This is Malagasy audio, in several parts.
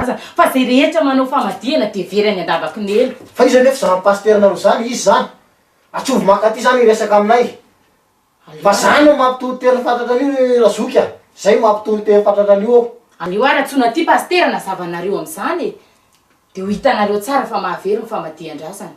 aza fa zay rehetra manao famadihana de very any andabakinelo. Fa iza anefa zany pasteur nareo zany? Iza zany? Atsovy mankaty zany hiresaka aminay. Fa za no mampitory toerana fatratra an'io ry Razoky a! Zay mampitory toerana fatratra an'io aho. Aleo ara tsoina ty pasitera nazava nareo amizany e! De ho hitanareo tsara fa mahavery ny famadihan-drazana.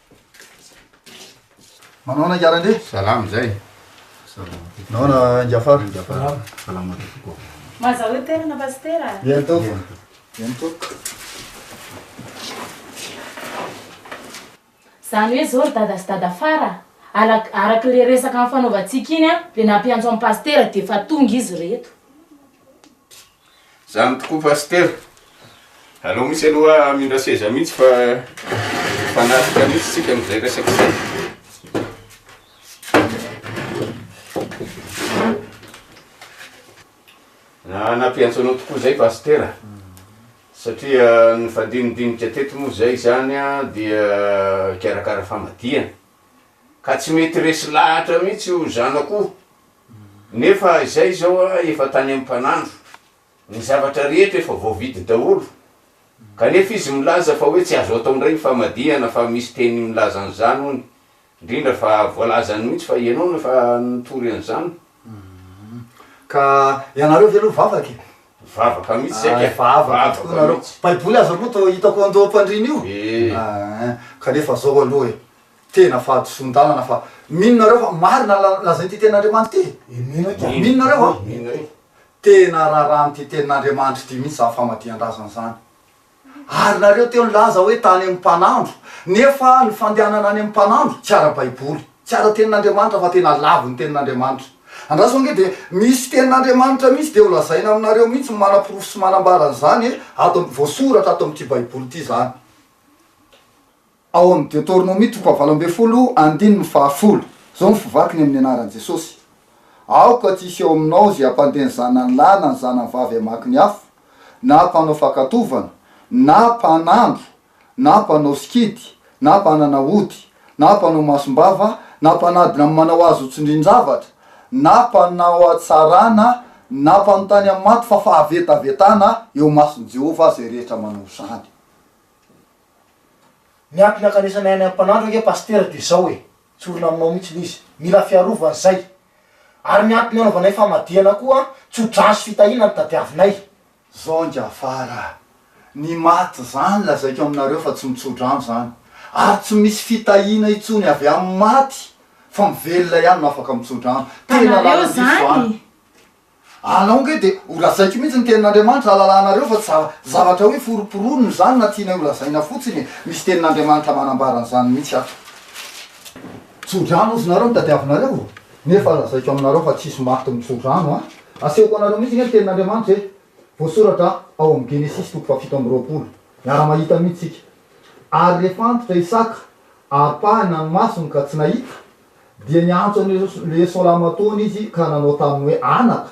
Manao na gara ndry? Salama zay. Nao na ingafara? Ingafara. Salama tokoa. Maza hoe tena na pasitera? Yen to. Yen to. Zany hoe zao ry dada sy dada fara alak araka le resaka nifanaovantsika iny an de nampiantso an'i pasitera de efa tonga izy reto. Zany tokoa Pasitera. Aleo mihitsy aloha hamindra seza mihitsy fa fanatrika mihitsy tsika amin'izay resaka izay. nampiantso anao tokoa zay pastera satria ny fandinidinika teto moa zay zany dia mikarakara famadihana Ka tsy mety resy lahatra mihitsy io zanako io. Nefa izay izao efa tany amin'ny mpanandro. Ny zavatra rehetra efa voavidy daholo. Kanefa izy milaza fa hoe tsy azo atao indray ny famadihana fa misy teny milaza an'izany hono. Indrindra fa voalazany mihitsy fa ianao no efa nitory an'izany. Ka ianareo ve aloha vavaka e? Vavaka mihitsy isika. Hay vavaka tokoa nareo. Baiboly aza aloha toa hitako andoham-pandriana io. Kanefa izao aloha e. Tena fahadisoan-dalana fa mino nareo fa marina ny lazain'ity tenin'Andriamanitra ity? Mino nareo va? Tena rarahan'ity tenin'Andriamanitra ity mihitsy izany famadihan-drazana izany. Ary nareo teo nilaza hoe tany amin'ny mpanandro, nefa ny fandehanana any amin'ny mpanandro tsy ara-baiboly, tsy ara-tenin'Andriamanitra fa tena lavon'ny tenin'Andriamanitra. Andraso ange dia misy tenin'Andriamanitra mihitsy dia ho lazaina aminareo mihitsy ny manaporofo sy manambara an'izany e, ato voasoratra ato amin'ity baiboly ity izany. Ao amin'ny Deoteronomia toko fahavalo ambin'ny folo andininy fahafolo, izao no fivakiny amin'ny anaran'i Jesosy, Aoka tsy hisy ao aminao izay hampandeha ny zanany lahy na ny zanany vavy hamaky ny afo, na mpanao fankatoavana, na mpanandro, na mpanao sikidy, na mpanana ody, na mpanao masom-bava, na mpanadina amin'ny manao azy ho tsindrin-javatra, na mpanao hatsarana, na mpanontany amin'ny maty, fa fahavetavetana eo imason'i Jehovah izay rehetra manao izany. Ny antony ankanesanay any am panandro ange pasitera dia zao e! tsorina aminao mihitsiny izy! mila fiarovany zay! ary ny antony anaovanay famadihana koa tsodrano sy fitahiana no tadiavinay! Zao ange afara a! ny maty zany lazaiko aminareo fa tsy mitsodrano zany! ary tsy misy fitahiana intsony avy am maty fa mivelona ihany no afaka mitsodrano! tena laladiso zany! Anao nge de ho lazaiko mihitsy ny tenin'Andriamanitra alalahanareo fa tsy zavatra hoe foromporono izany na tianay ho lazaina fotsiny e! Misy tenin'Andriamanitra manambara an'izany mihitsy ato. Tso-drano ozy nareo no tadiavinareo o! Nefa lazaiko aminareo fa tsisy maty mitso-drano a! Asehoko anareo mihitsy nge ny tenin'Andriamanitra e! Voasoratra ao amin'ny Genesisy toko fahafito amby roapolo. Miara-mahita mihitsy tsika. Ary rehefa antitra Isaka, ampahany nanomasony ka tsy nahita, Dia niantso an' i Esolamatoana izy ka nanao taminy hoe, Anaka!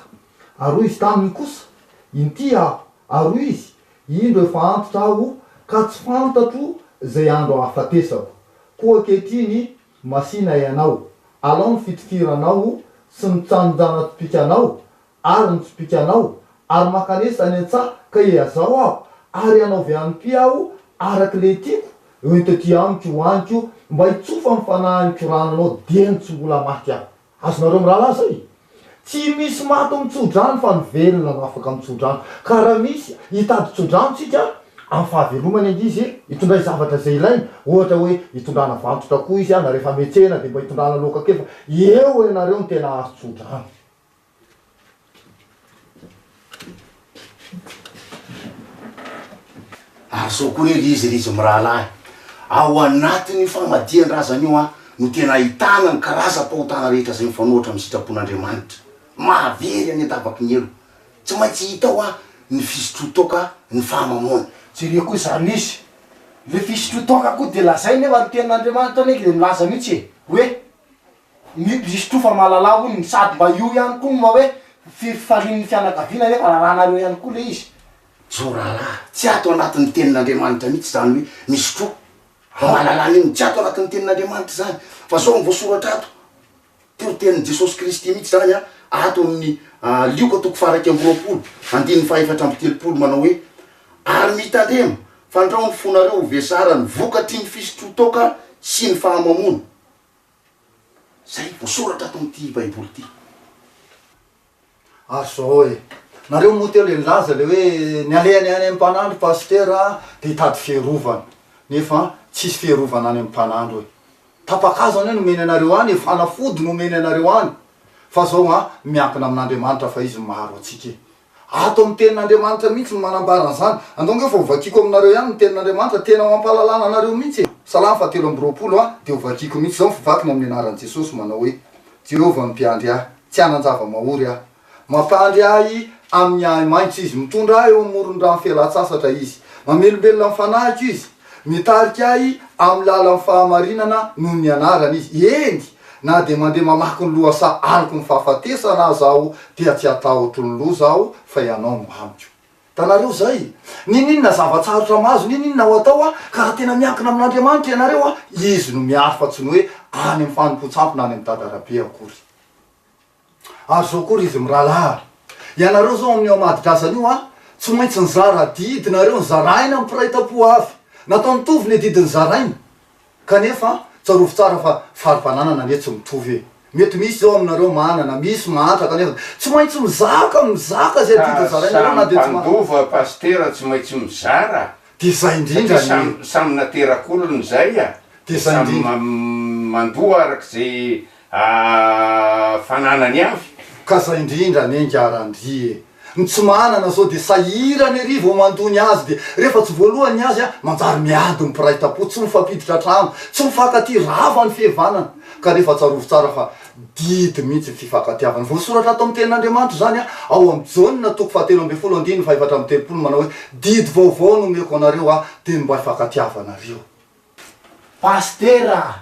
Ary hoy izy taminy kosa, Inty aho. Ary hoy izy, Indro efa antitra aho ka tsy fantatro izay andro hahafatesako. Koa ankehitriny masìna ianao, alao ny fitifiranao sy ny tsanonjanatotoikanao Ary ny tsipìka anao, ary mankanesa any an-tsaha ka eazao aho, ary hanaove ampy aho araka ilay tiako, ento aty amiko io aniko, mba hitsofa amin'ny fanahiniko rano anao, dieny tsy mbola maty aho. Azonareo mirahalahy izay? Tsy misy maty amin'ny tsodrano, fa ny velona no afaka amin'ny tsodrano. Ka raha misy hitady tsodrano tsika, amin'ny fahavelomany ange izy hitondray zavatra izay ilainy, ohatra hoe hitondrana vantotra koa izy, na rehefa mihetsehina dia mba hitondrana loaka kely, fa eo ianareo no tena azo tsodrano. Ary izao koa re ry izy ry izy mirahalahy, ao anatin'io famadihan-drazana io no tena ahitana ny karazam-pahotana rehetra izay mifanohitra amin'ny sitrapon'Andriamanitra. Mahavery any an-dabaky ny helo. Tsy maintsy hita ao ny fisotroan-toaka ny fahamamoana. Jereo koa izany misy. Ilay fisotroan-toaka koa dia lazainy hoe marin-tenin'Andriamanitra anie ilay milaza mihitsy e! hoe. Ny Kristo fa malalà hono ny sady mba io ihany koa no mba hoe fifarian'ny fianakaviana nefa rarànareo ihany koa le izy. Zao rahalahy, tsy ato anatin'ny tenin'Andriamanitra mihitsy izany hoe misy tro ho malalà ny inona, tsy ato anatin'ny tenin'Andriamanitra izany fa zao ny voasoratra ato, toritenin'i Jesosy Kristy mihitsy izany an, ato amin'ny Lioka toko faha-iraika amby roapolo andininy faha-efatra amby telopolo manao hoe, Ary mitandrema, fandrao ny fonareo ho vesaran'ny vokatry ny fisotro-toaka sy ny fahamamoana. Izay voasoratra ato amin'ity Baiboly ity. Ary izao e, nareo moa teo le nilaza le hoe ny alehany any amin'ny mpanandro pasitera dia hitady fiarovana, nefa tsisy fiarovana any amin'ny mpanandro e. Tapa-kazo anie no omeny anareo any e, fanafody no omeny anareo any, fa izao an, miankina amin'Andriamanitra fa izy no maharo antsika e. Ato amin'ny Tenin'Andriamanitra mihitsy no manambara an'izany. Angaongeo fa hovakiako aminareo ihany ny Tenin'Andriamanitra, tena ho hampahalalana anareo mihitsy e! Salamo fahatelo amby roapolo a Dia hovakiako mihitsy izao ny fivakina amin'ny anaran'i Jesosy, manao hoe, Jehovah no mpiandry ahy, tsy hanan-java-mahory aho. Mampandry ahy amin'ny ahi-maitso Izy, mitondra ahy eo amoron'ny rano fialan-tsasatra Izy. Mamelombelona ny fanahiko Izy. Mitarika ahy amin'ny lalan'ny fahamarinana noho ny anarany izy. Eny, na dia mandeha mamaky ny lohasaha aloky ny fahafatesana aza aho dia tsy hatahotro ny loza aho fa ianao no amiko. Hitanareo izay? N'inon'inona zava-tsarotra mahazo n'inon'inona ho atao ka raha tena miankina amin'Andriamanitra ianareo, Izy no miaro fa tsy ny hoe any amin'ny fanompoan-tsampy na any amin'ny dada arabe akory. Ary zao koa ry izy miralaha, ianareo zao amin'io Amadidrasana io an, tsy maintsy nizara adidy nareo nizaraina amin'ny mpiray tampo avy, natao nitovy ny adidy nizaraina, kanefa an, tsarovy tsara fa fari-pananana anie tsy mitovy e, mety misy zao aminareo manana, misy mahantra kanefa tsy maintsy mizaka, mizaka izay adidy nizarainareo na dia tsy mahantra. Ka samy mpandova pasitera tsy maintsy mizara, Dia izay indrindra satria anie. samy samy naterak'olona izay a, Dia izay samy indrindra. mandoa arak'izay Aah fananany avy. Ka zay indrindra anie ngy Randri e! Ny tsy manana zao dia sahirana ery vao mandoa ny azy dia rehefa tsy voalohany ny azy an! manjary miady ny mpiray tampo, tsy mifampiditra trano, tsy mifankatia, rava ny fihevanana! Ka nefa tsarovy tsara fa didy mihitsy ny fifankatiavana. Voasoratra ato amin'ny tenin'Andriamanitra izany an! ao amin'ny Jaona toko faha telo ambin'ny folo andininy faha efatra amby telopolo manao hoe didy vaovao no omeko anareo aho, dia ny mba hifankatiavanareo. Pasitera a!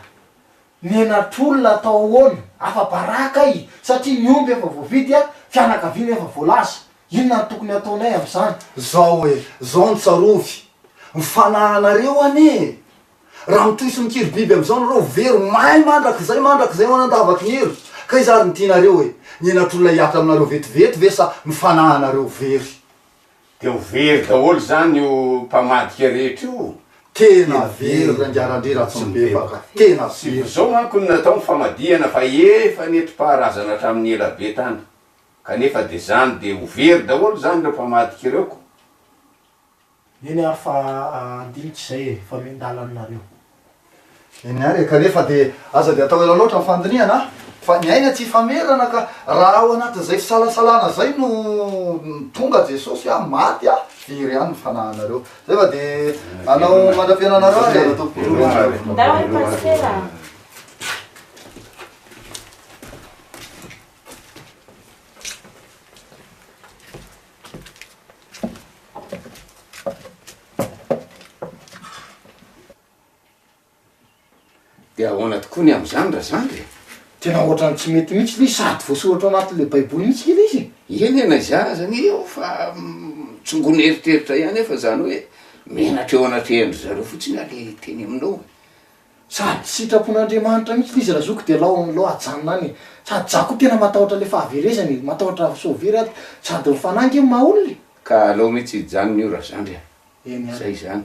Menatr'olona atao ahoana? Afa-baraka ahy satria ny omby efa voavidy a, fianakaviana efa voalaza. Inona no tokony hataonay amin'izany? Zao e, zao no tsarovy, ny fanahinareo anie e! Raha mitohy sy mikiry biby amin'izao nareo ho very may mandrakizay mandrakizay ho any an-davaky ny elo. Ka iza ary no tianareo e? Ny henatr'olona hihatra aminareo vetivety ve sa ny fanahinareo very? Dia ho very daholo izany io mpamadika rehetra io. Tena very rangaran-dry Ratsimbebaka, tena very. Izao manko no natao ny famadihana fa efa nentim-paharazana hatramin'ny ela be tany. Kanefa dia izany dia ho very daholo izany ireo mpamadika ireo ko. Eny ary fa handinika izay e, fa miandalana nareo. Eny ary e, kanefa dia aza dia atao ela loatra ny fandinihana an! Fa ny aina tsy hifamerana ka raha ao anatin'izay fisalasalana izay no tonga Jesosy an, maty an, dia iry ihany ny fanahinareo. Izay fa dia hanao mandra-piainana anareo ary e! Misaotra ary. Ndao ary Pasitera a! Dia ahoana tokoa ny amin'izany Razandry e? Tena ohatran'ny tsy mety mihitsy ilay izy, sady voasoratra ao anatin'ilay Baiboly mihitsy ilay izy e! Eny e, na izany aza anie eo fa tsongon'ny eritreritra ihany aho fa izany hoe menatra eo anatrehan-dry zareo fotsiny aho ilay teny aminao e! Sady sitrapon'Andriamanitra mihitsy le izy ra zoky de lao lao ajanona any e! Sady za ko tena matahotra le fahaverezany e! Matahotra sao very ato! Sady ny fanahy nge maha olona e! Ka alao mihitsy hijanona io razandry a! Eny ary. Zay izany.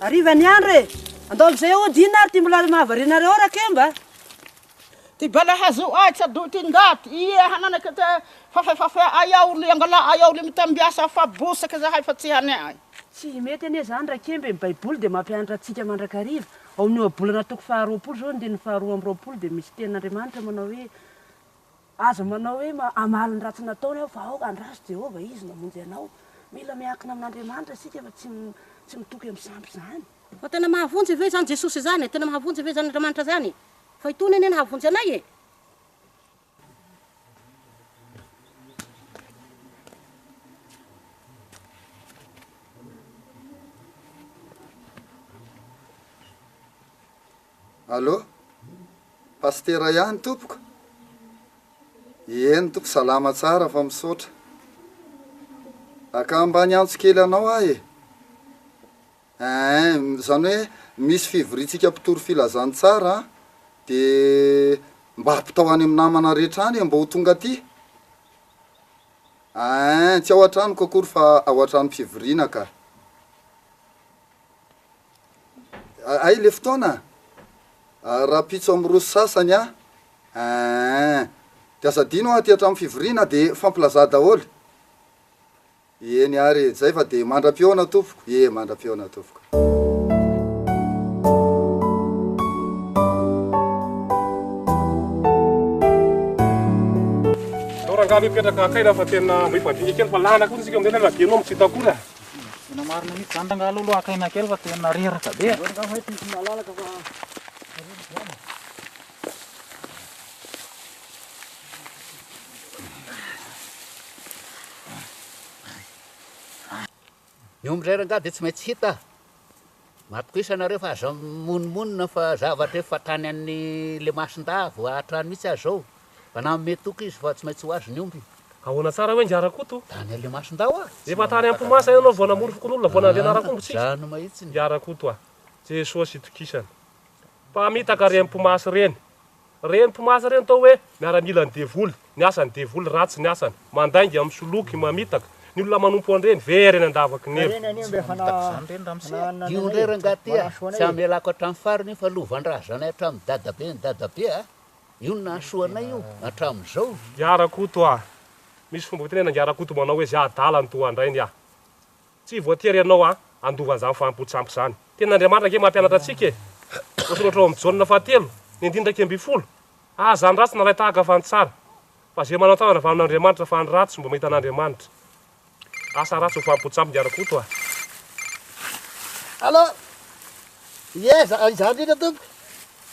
Harivan'ny andro e! Andao amin'izay aody inona ary ity molaly mahavariana anareo rakemba? Ty bala hazo ay tsy adoy ty ndaty ie hananaka te fafe fafe ay aho li angala ay aho li mitambiasa fa bosaka zahay fa tsy hane ay. Tsy mety anie izany Rakemba e, ny Baiboly dia mampianatra antsika mandrakariva. Ao amin'ny Ohabolana toko faha roapolo izao andininy faha roa amby roapolo dia misy tenin'Andriamanitra manao hoe, Aza manao hoe hamaly ny ratsy nataony aho fa aoka handraso Jehovah izy namonjy anao. Mila miankina amin'Andriamanitra isika fa tsy tsy mitoky amin'ny sampy izany. Fa tena mahavonjy ve izany Jesosy izany e? Tena mahavonjy ve izany Andriamanitra izany e? Fa itony anie nahavonjy anay e! Allo, Pasitera ihany tompoko? Ieny tompoko salama tsara fa misaotra. Aka mba niantso kely anao aho e. Eeh, zany hoe misy fivoriantsika mpitory filazantsara an, de mba ampitao any amin'ny namana rehetra any e mba ho tonga aty. Eeh, tsy ao an-tranoko akory fa ao an-tranom-pivoriana ka. Hay le fotoana a! Rahampitso am roso sasany a! Eehh! De aza adino aty atram fivoriana de fampilaza daholo! Eny ary e! Zay fa de mandram-pihaona tompoko! Ie mandram-pihaona tompoko! Aleo rangahy aloha hipetraka akaiky fa tena mba hifadinika kely fa lana koa isika amin'izay na dia ianao no tsy hita akory a! Tena marina mihitsy zany rangaha aloha aloha akaina kely fa tena reraka be. Zao rangaha fay tokony malalaka fa Ny omby indray rangaha dia tsy maintsy hita. Matokiza nareo fa aza mimonomonona fa zavatra efa tany an'ny le masindahy vao hahatrany mitsy aza zao fa nanome toky izy fa tsy maintsy ho azy ny omby. Ahoana tsara hoe Ngah Rakoto? Tany an'le masindahy hoa? Efa tany Ampomasa ianao vao namory fokonolona vao nandeha narakombo tsika? Zany mahitsy ny. Ngah Rakoto a! Jesosy itokisana. Mpamitaka re Ampomasy reny. Reny mpimaza reny atao hoe miaramilan'ny devoly, ny asany devoly ratsy ny asany, mandainga, misoloky, mamitaka, ny olona manompo an'ireny ve reny andavaky ny eva. Tsy mamitaka izany reny ramose a! Dio ndray rangaty a! Tsy hamelako hatramin'ny farany io fa lovan-drazanay hatramin'ny dadaben'ny dadabe a! Io no nahasoa anay io, hatramin'izao. Ngya Rakoto a! Misy fomba fitenenana Ngya Rakoto manao hoe zay adala no toa andrainy a! Tsy voatery ianao a handova an'izany fahampoan-tsampy izany. Tena Andriamanitra ange mampianatra antsika e! Voasoratra ao amin'ny Jaona fahatelo, ny andininy iraika ambin'ny folo, Aza ny ratsy nalahy tahaka fa ny tsara, fa ze manao tsara aza vanon' Andriamanitra, fa ny ratsy tsy mba mahita an'Andriamanitra. Asa ratsy ho fahampoan-tsampy ny ara-koto a! Allô? Ie, za, izaho indrindra tompoko.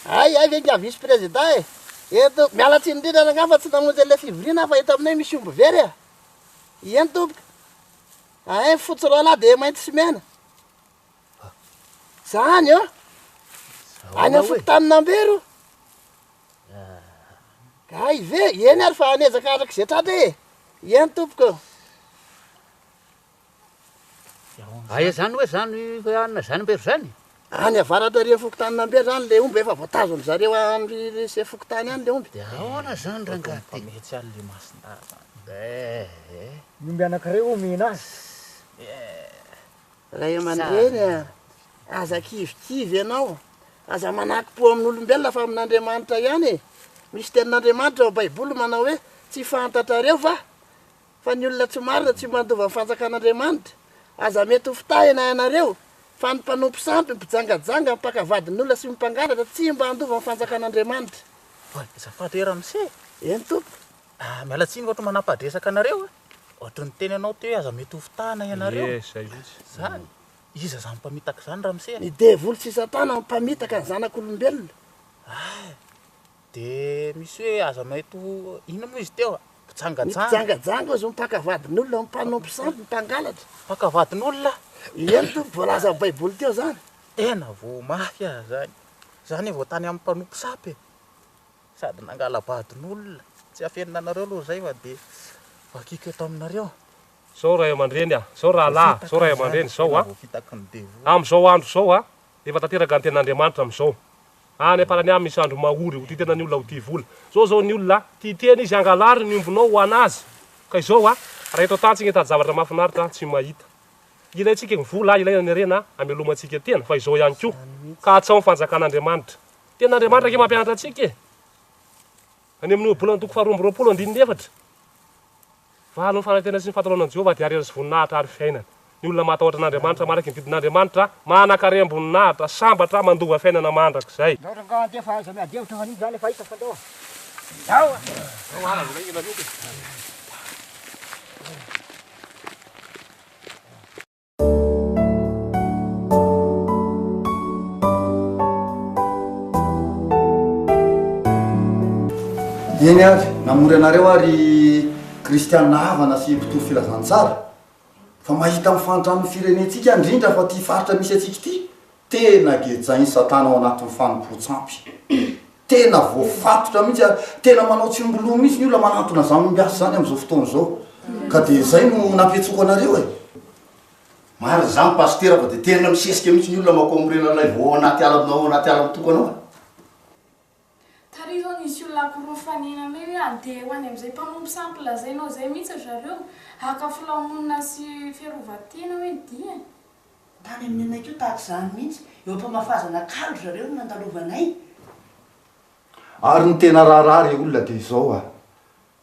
Hay, hay ve ingahy vice président e! Eto, miala tsiny indrindra rangahy fa tsy namonjy an'ilay fivoriana aho fa eto aminay misy omby very a! Ieny tompoko. Ahay fotsy ralahy dia mainty sy mena zany ô any amin'ny fokontanin'Ambero ay ve eny ary fa anezaka araka izay tratra e eny tompoko Aia zany hoe zany hoe anona zany Ambero zany? Any avaratra ary amin'ny fokontanin'Ambe izany ilay omby efa voatazon-dry zareo any ry se fokontany any ilay omby. Dia ahoana izany rangahy ty? Mihitsy any ilay masindahy izany. Eh eh. Ny omby anankiray omena azy. Eh. Ray aman-dreny a! Aza kivikivy ianao. Aza manaki-po amin'olombelona fa amin'Andriamanitra ihany e! Misy tenin'Andriamanitra ao Baiboly manao hoe, Tsy fantatrareo va? Fa ny olona tsy marina tsy mandova ny fanjakan'Andriamanitra. Aza mety ho fitahina ianareo, fa ny mpanompo sampy, mpijangajanga, mpaka vadin'olona sy mpangalatra tsy mba handova ny fanjakan'Andriamanitra. Oay, azafady hoe Ramse e! Eny Tompo. Ah, miala tsiny ohatry ny manampadresaka anareo a! Ohatry ny teny anao teo hoe aza mety ho fitahina ianareo. Ie, zay mihitsy. Zany? Iza zany mpamitaka izany Ramse a? Ny devoly sy Satana no mpamitaka ny zanak'olombelona. Ah! De misy hoe aza maito inona moa izy teo a? Mpijangajanga. Mpijangajanga ozy mpaka vadin'olona, mpanompo sampy, mpangalatra. Mpaka vadin'olona? Eny Tompo, voalazan'ny Baiboly teo zany. Tena vao mafy aza zany. Zany vao tany amin'ny mpanompo sampy e. Sady nangala-badin'olona. Tsy hafenina anareo aloha zay fa de vakiko eto aminareo. Zao ray aman-dreny a, zao rahalahy, zao ray aman-dreny zao a, amin'izao andro izao a, Efa tanteraka ny tenin'Andriamanitra amin'izao. Any am-parany any misy andro mahory ho tia tena ny olona ho tia vola. Izao izao ny olona a, tia tena izy, hangalary ny ombinao ho an'azy. Ka izao a, raha eto an-tany tsy ngita zavatra mahafinaritra a, tsy mahita. Ilaintsika ny vola a, ilaina ny harena a, hamelomantsika tena, fa izao ihany koa, katsaho ny fanjakan'Andriamanitra. Tenin'Andriamanitra ange mampianatra antsika e! Any amin'ny Ohabolana toko faharoa amby roapolo andininy efatra, Valo ny fanantenana sy ny fahataraonana an'i Jehovah, ady harena sy voninahitra ary fiainana. Ny olona mahatahotra an'Andriamanitra, manaiky ny didin'Andriamanitra, manan-karem-boninahitra, sambatra, mandova fiainana mandrakizay. Eny ary, namory anareo aho ry kristiana havana sy mpitory filazantsara, fa mahita mifanitra amin'ny firenentsika indrindra fa ity faritra misy antsika ity, Tena gejain'i Satana ao anatin'ny fanompoan-tsampy. Tena voafatotra mihitsy ary tena manao tsimboloha mihitsy ny olona manantona izany ombiasy izany amin'izao fotoana izao. Ka dia izay no nampiantsoko anareo e! Marina izany Pasitera fa dia tena misesika mihitsy ny olona makoa mirenan'ilay vao ao anaty ala ao anaty ala mitokana ao e! Tary zao nisy olona akoroa fanina anay hoe andeha ho any amzay mpanompo sampy lazainao zay mihitsy ry zareo haka filamonina sy fiarovatena hoe ny diany. Tany amin'ny anay koa tahaka izany mihitsy, eo am-pamafazana kalo ry zareo no nandalovanay. Ary ny tena raharaha re olona dia izao a!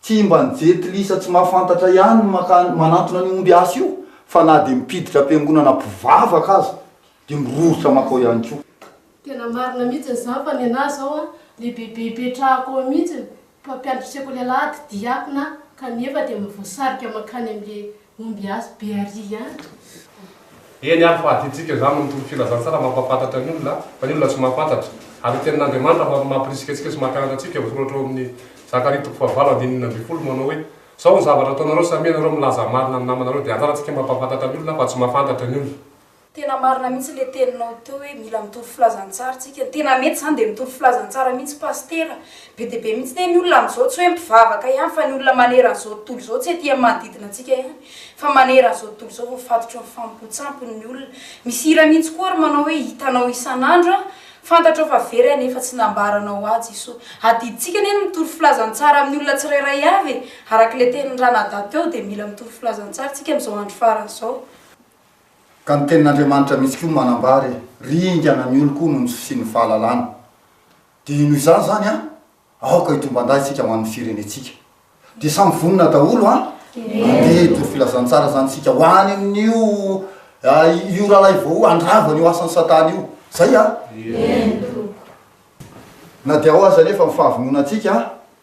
Tsy mba ny jentilisa tsy mahafantatra ihany no mankany manantona an'io omby asa io fa na dia mpiditra am-piangonana mpivavaka aza dia miroritra mankao ihany koa. Tena marina mihitsiny zany fa nenaha zao an le bebe ipetrahako ao mihitsiny mpampianatry sekoly alahady diakona kanefa dia mba voasarika mankany amle Ombiasy be ary ihany tompoko. Eny ary fa aty tsika izany no mitory filazantsara mampahafantatra ny olona fa ny olona tsy mahafantatra ary ny tenin'Andriamanitra no afaka mampirisika antsika sy makanatra antsika voasoratra ao amin'ny Zakaria toko fahavalo andininy enina ambin'ny folo manao hoe zao ny zavatra ataonareo samia ianareo milaza marina ny namanareo dia anjarantsika mampahafantatra ny olona fa tsy mahafantatra ny olona Tena marina mihitsy le teninao teo hoe mila mitory filazantsara tsika, tena mety zany de mitory filazantsara mihitsy pasitera, be de be mihitsy ne ny olona amzao tsy hoe mpivavaka ihany fa ny olona manerana zao tontolo zao tsy aty am manodidina antsika ihany fa manerana zao tontolo zao voafatotry ny famompotsampony ny olona, misy hira mihitsy koa ary manao hoe hitanao isanandro aho, fantatrao fa very anie fa tsy nambaranao ahy Jeso, adiditsika anie ny mitory filazantsara aminy olona tsirairay avy e, arakle teniny ranadahy teo de mila mitory filazantsara tsika amzao andro farany zao. Ka ny tenin'Andriamanitra mihitsy koa manambara hoe, Ringana ny oloko noho ny fisian'ny fahalalana. Dia noho izany izany an, aoka hitomban-dahy isika ho an'ny firenentsika. Dia samy vonona daholo an? Mandeha hitory filazantsara izany isika ho any amin'io io rahalahy vao handravana io asan'i Satana io. Izay an? Eny, Tompoko. Na dia ao aza anefa ny fahavononantsika